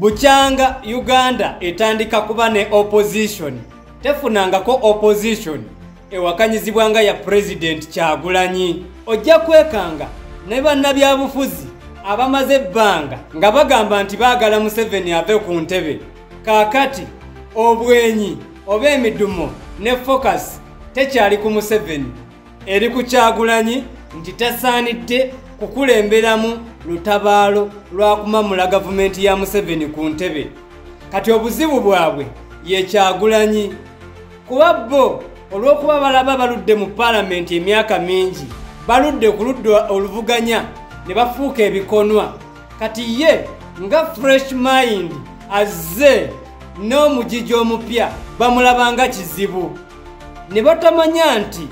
bukyanga uganda etandika kuba ne opposition tefunangako opposition ewakanyizibwa nga ya pulezidenti kyagulanyi ojja kwekanga ne bannabyabufuzi abamaze ebbanga nga bagamba nti baagala museveni ave ku ntebe kaakati obwenyi oba emidumo ne focus tekyali ku museveni eri ku kyagulanyi nti tasaanidde kukulemberamu lutabaalo lwakumamula gavumenti ya museveni ku ntebe kati obuzibu bwabwe yekyagulanyi kuba bo olw'okuba balaba baludde mu paalamenti emyaka mingi baludde ku ludda oluvuganya ne bafuuka ebikonwa kati ye nga fresh mind azze n'omugigi omupya bamulabanga kizibu ne batamanya nti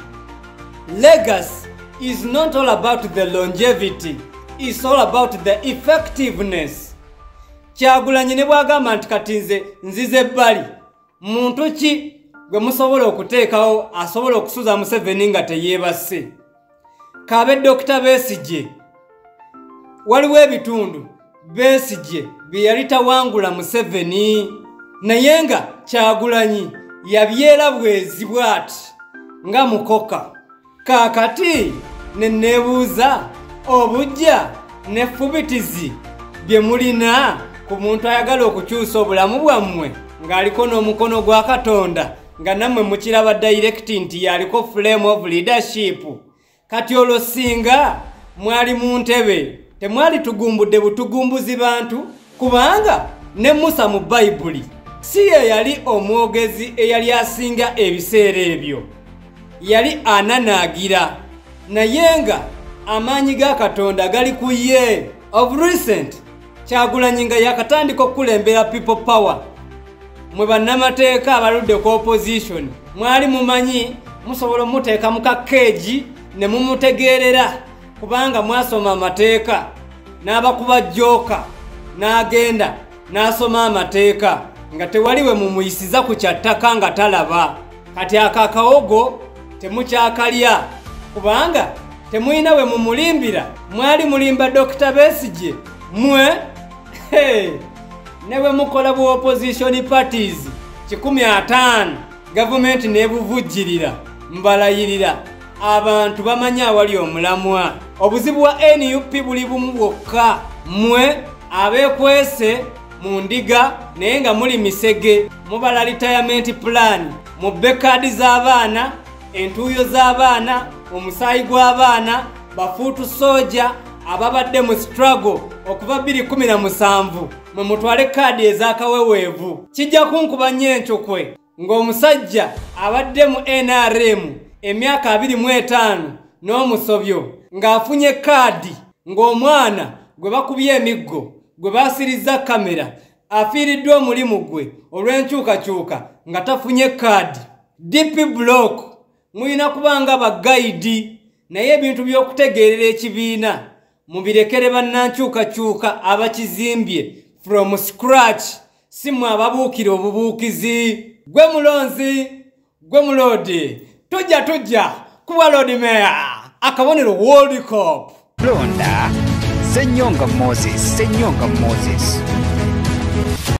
legacy is not all about the longevity is all about the effectiveness kyagulanyi ne bwagamba nti kati nze nzize ebbali muntu ki gwe musobola okuteekawo asobola okusuza museveni nga teyeebase kaabe dokita besigye waliwo ebitundu besigye bye yali tawangula museveni naye nga kyagulanyi yabyera bwezi bwati nga mukoka kaakati ne neebuuza obujja nefubitizi bye mulina ku muntu ayagala okukyusa obulamu bwammwe ng'aliko n'omukono gwa katonda nga nammwe mukiraba dayirekiti nti yaliko flame of leadership kati olwo singa mwali mu ntebe temwali tugumbudde butugumbuzi bantu kubanga ne musa mu bayibuli si ye yali omwogezi eyali asinga ebiseera ebyo yali ananaagira naye nga amaanyi ga katonda gali ku ye of recent kyagulanyi nga yakatandika okukulembera people power mwe bannamateeka abaludde ku opposition mwali mumanyi musobola omuteeka mu kakeegi ne mumutegeerera kubanga mwasoma amateeka n'abakuba jooka n'agenda n'asoma amateeka nga tewali we mumuyisiza ku kyattaka nga talaba kati ako akawogo temukyakalya kubanga temulina we mumulimbira mwali mulimba dokita besigye mwe hey. ne bwe mukola bu opposition parties kikumi ataano gavumenti nebuvujjirira mbalayirira abantu bamanyi awali omulamwa obuzibu wa nup buli bumu bwokka mwe abekwese mu ndiga naye nga muli misege mubala litayamenti pulaani mubbe kaadi z'abaana entuuyo z'abaana omusaayi gw'abaana bafuutu sooja ababadde mu struggle okuva 217 mwe mutwale kaadi ez'akaweweevu kijja kunkuba nnyo encukwe ng'omusajja abadde mu nrm emyaka 25 n'omusobyo ng'afunye kaadi ng'omwana gwe bakubye emiggo gwe baasirizza kamera afiiriddwa omulimu gwe olw'enkyukakyuka nga tafunye kaadi dp block mulina kuba nga bagayidi naye ebintu by'okutegeerera ekibiina mubirekere bannankyukakyuka abakizimbye from scratch si mwe ababuukira obubuukizi gwe mulonzi gwe muloodi tujja tujja kuba loodi meya akabonero world cop londa senyonga moses senyonga moses